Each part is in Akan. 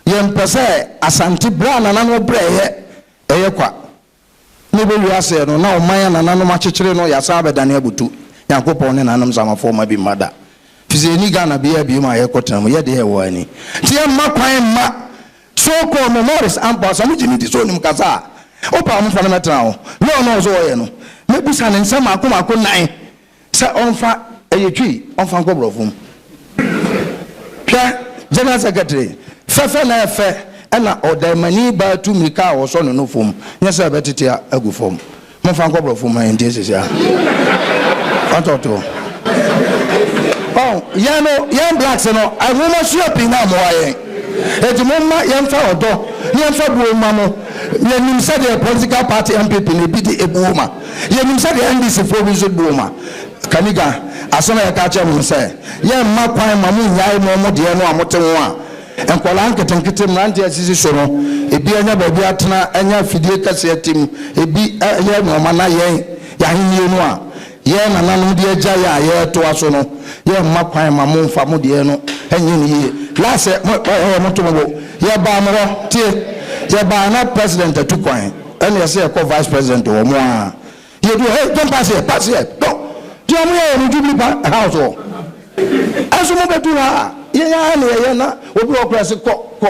yɛmpɛ sɛ Asante berɛ a nananom brɛ yɛ ɛyɛ kwa na ɛbɛ wiase no na ɔman a nananom akyekyere no yɛasan abɛdane abutu Nyankopɔn ne nananom Zamafoɔ mma bi mma da firi sɛ yɛnni Ghana biara biom a yɛkɔ tena mu yɛ deɛ ɛwɔ ani nti yɛmma kwan mma so kɔɔ mɛ Morris ampa sɛ mo gye ne di sɛ onim kasa a wopa a mo fa no mɛtena ho ne ɔno ɔsɛ ɔyɛ no mɛbusa ne nsɛm maako maako nan sɛ ɔmfa ɛyɛ twi ɔmfa nkɔ brɔfo mu hwɛ general secretary fɛfɛ na ɛfɛ ɛna ɔdɛmani baa tu mirika a ɔsɔ no no fam nyɛ sɛ ɛbɛtete agu fam momfa nkɔ brɔfo mu ɛnti esisi a ɔtɔto ɔn yɛn no yɛn blacks no ahoma sua pii na amoa yɛn eti momma yɛmfa ɔdɔ ne yɛmfa buo ma mo yɛnim sɛdeɛ political party mpp na ebi de ebuo ma Yɛnim sɛ deɛ NDC foɔ bi nso buom a, Kaniga, asɛm a yɛtaa kyerɛ mo no sɛ, yɛmma kwan mma mo nnyae mo mo deɛ no a mote ho a, nkwadaa nketenkete, mmeranteɛ a asisi so no, ebi anya baabi atena, anya afidie kɛseɛ ate mu, ebi yɛ nnoɔma na yɛn, yɛn ahennie no a yɛn nananom de agyae a yɛretoa so no, yɛmma kwan mma mo mfa mo deɛ no nyɛ no yie. Last, mo, ɛɛ, moto mo bo. Yɛbaa mo hɔ, tie, yɛbaa na President atu kwan. Ɛne ɛsɛ yɛkɔ vice president hɔ mo aa yɛduru hɔ don't pass here pass here don't deɛ ɔmo yɛyɛ no jubilee pa house hɔ ɛnso mo bɛduru ha a yɛn aa ne yɛyɛ na obi wɔ kora se kɔ kɔ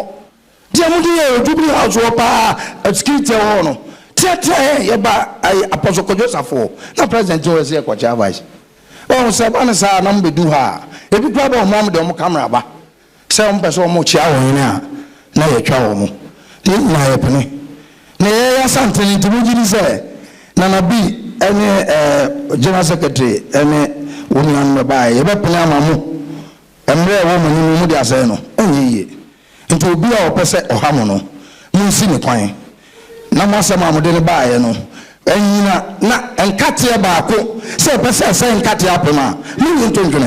deɛ mo de yɛyɛ wɔ jubilee house hɔ paa security ɛwɔ hɔ no teatea yɛn yɛba ayi apɔso kɔdwo safo hɔ na president hɔ ɛsɛ yɛkɔ kyea vice wɔn sɛ ba ne saa na mo bɛduru ha a ebi kora bɛ ɔmo ɔmo de ɔmo camera ba sɛ wɔpɛ sɛ wɔkyea wɔn yene a, na yɛtwa wɔn. Ne nyinaa yɛpene. Na yɛyɛ yɛn asantene nti mo gye di sɛ Nana Bi ne ɛɛ General Secretary ne wo nuanom bɛbaeɛ, yɛbɛpene ama mo mmerɛ a ɛwɔ mo anim no mode asɛe no? Ɛnyɛ yie. Nti obi a ɔpɛ sɛ ɔha mo no, monsi no kwan na mo asɛm a mode no baeɛ no nnyina na nkateɛ baako, sɛ ɛpɛ sɛ ɛsɛe nkateɛ apem a, monnye nto ntwene.